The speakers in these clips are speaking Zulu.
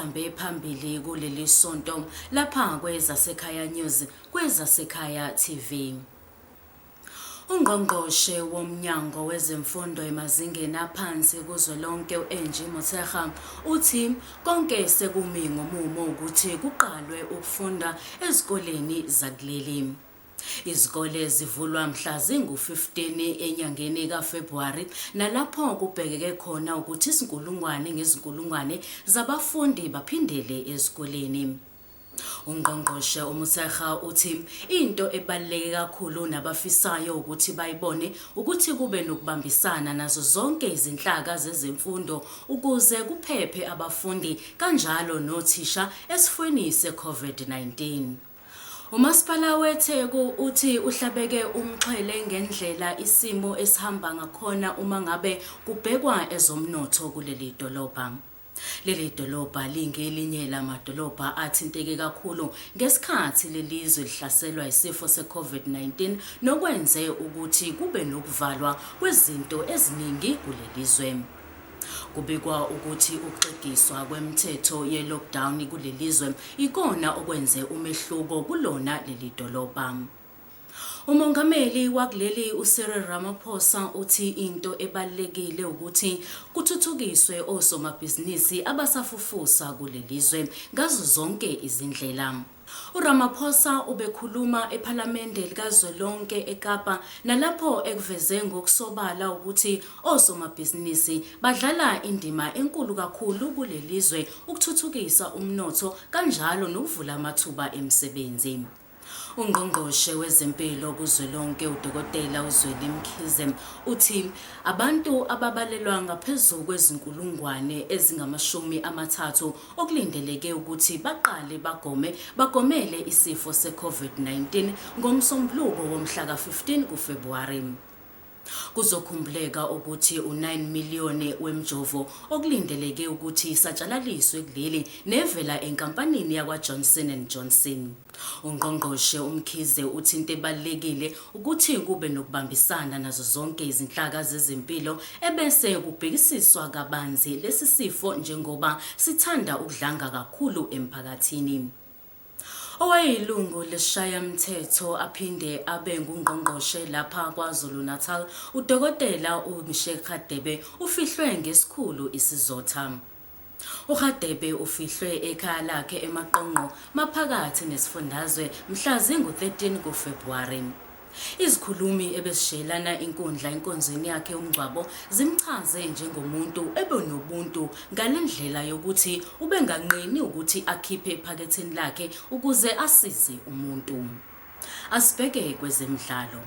ezihambe phambili kuleli sonto lapha kwezasekhaya news kwezasekhaya tv UNgqongqoshe woMnyango wezeMfundo emazingeni aphansi kuzwelonke u-Angie Motshekga uthi konke sekumi ngomumo ukuthi kuqalwe ukufunda ezikoleni zakuleli. Izikole zivulwa mhla zingu-15 enyangeni kaFebhuwari nalapho kubhekeke khona ukuthi izinkulungwane ngezinkulungwane zabafundi baphindele ezikoleni. UNgqongqoshe uMotshekga uthi into ebaluleke kakhulu nabafisayo ukuthi bayibone ukuthi kube nokubambisana nazo zonke izinhlaka zezemfundo ukuze kuphephe abafundi kanjalo nothisha esifweni seCOVID-19. UMasipala weTheku uthi uhlabeke umxhwele ngendlela isimo esihamba ngakhona uma ngabe kubhekwa ezomnotho kuleli dolobha. Leli dolobha lingelinye lamadolobha athinteke kakhulu ngesikhathi lelizwe lihlaselwa isifo seCovid-19 nokwenze ukuthi kube nokuvalwa kwezinto eziningi kulelizwe. Kubikwa ukuthi ukuxegiswa kwemithetho ye-lockdown kulelizwe ikona okwenze umehluko kulona leli dolobha. Umongameli wakuleli uCyril Ramaphosa uthi into ebalulekile ukuthi kuthuthukiswe osomabhizinisi abasafufusa kulelizwe ngazo zonke izindlela. URamaphosa ubekhuluma ePhalamende likazwelonke eKapa nalapho ekuveze ngokusobala ukuthi osomabhizinisi badlala indima enkulu kakhulu kulelizwe ukuthuthukisa umnotho kanjalo nokuvula amathuba emisebenzi. Ungqongqoshe wezempilo kuzwelonke uDokotela uZweli Mkhize uthi abantu ababalelwa ngaphezu kwezinkulungwane ezingamashumi amathathu okulindeleke ukuthi baqale bagome bagomele isifo seCovid-19 ngoMsombuluko womhla ka-15 kuFebhuwari. Kuzokhumbuleka ukuthi u-9 million wemjovo okulindeleke ukuthi isatshalaliswe kuleli nevela enkampanini yakwaJohnson and Johnson. UNgqongqoshe uMkhize uthi into ebalulekile ukuthi kube nokubambisana nazo zonke izinhlaka zezempilo ebese kubhekisiswa kabanzi lesi sifo njengoba sithanda ukudlanga kakhulu emphakathini. Owayeyilungu leshayamthetho aphinde abe ngungqongqoshe lapha KwaZulu-Natal, uDokotela uMisheck Radebe ufihlwe ngesikhulu isizotha. URadebe ufihlwe ekhaya lakhe eMaqongqo maphakathi nesifundazwe mhla zingu-13 kuFebhuwari. Izikhulumi ebesishiyelana inkundla enkonzweni yakhe umngcwabo zimchaze njengomuntu ebenobuntu ngalendlela yokuthi ubenganqeni ukuthi akhiphe ephaketheni lakhe ukuze asize umuntu. Asibheke kwezemidlalo.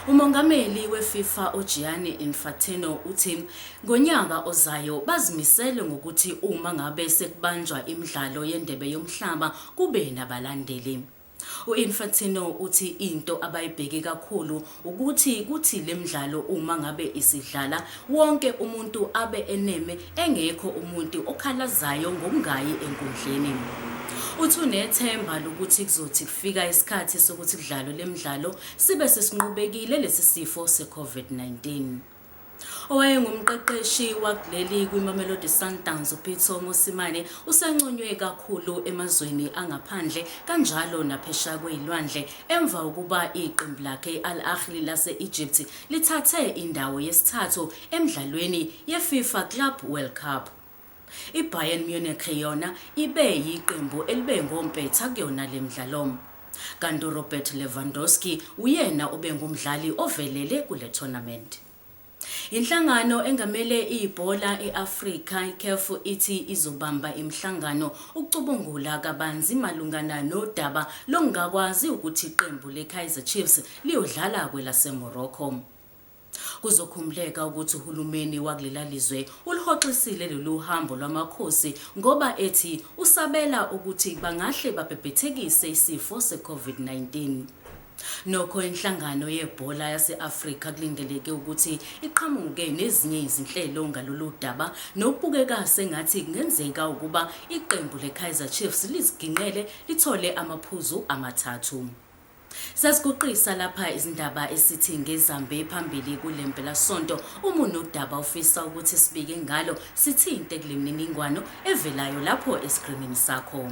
UMongameli weFIFA uGianni Infantino uthi Ngonyaka ozayo bazimisele ngokuthi uma ngabe sekubanjwa imidlalo yeNdebe yoMhlaba kube nabalandeli. U-Infantino uthi into abayibheke kakhulu ukuthi kuthi le mdlalo uma ngabe isidlala wonke umuntu abe eneme engekho umuntu okhalazayo ngokungayi enkundleni. Uthi unethemba lokuthi kuzothi kufika isikhathi sokuthi kudlalwe le mdlalo sibe sesinqobekile lesi sifo se-COVID-19. Owayengumqeqeshi wakuleli kwiMamelodi Sundowns uPitso Mosimane usenconywe kakhulu emazweni angaphandle kanjalo naphesheya kwezilwandle emva kokuba iqembu lakhe i-Al Ahly lase-Egypt lithathe indawo yesithathu emidlalweni yeFIFA Club World Cup. IBayern Munich yona ibe yiqembu elibe ngompetha kuyona le mdlalom. Kanti uRobert Lewandowski uyena obengumdlali ovelele kule tournament. Inhlangano engamele ibhola e-Afrika iCAF ithi izobamba imihlangano ukucubungula kabanzi malungana nodaba lokungakwazi ukuthi iqembu leKaizer Chiefs liyodlala kwelaseMorocco. Kuzokhumbuleka ukuthi uhulumeni wakulela lizwe uluhoxisile lolu hambo lwamakhosi ngoba ethi usabela ukuthi bangahle babhebhethekise isifo se-COVID-19. Nokho inhlangano yebhola yase-Afrika kulindeleke ukuthi iqhamuke nezinye izinhlelo ngalolu daba nokubukeka sengathi kungenzeka ukuba iqembu le-Kaizer Chiefs liziginqele lithole amaphuzu amathathu. Sasiguqisa lapha izindaba esithi ngezambe phambili kule mpelasonto uma unodaba ofisa ukuthi sibike ngalo sithinte kule mniningwano evelayo lapho esikrinini sakho.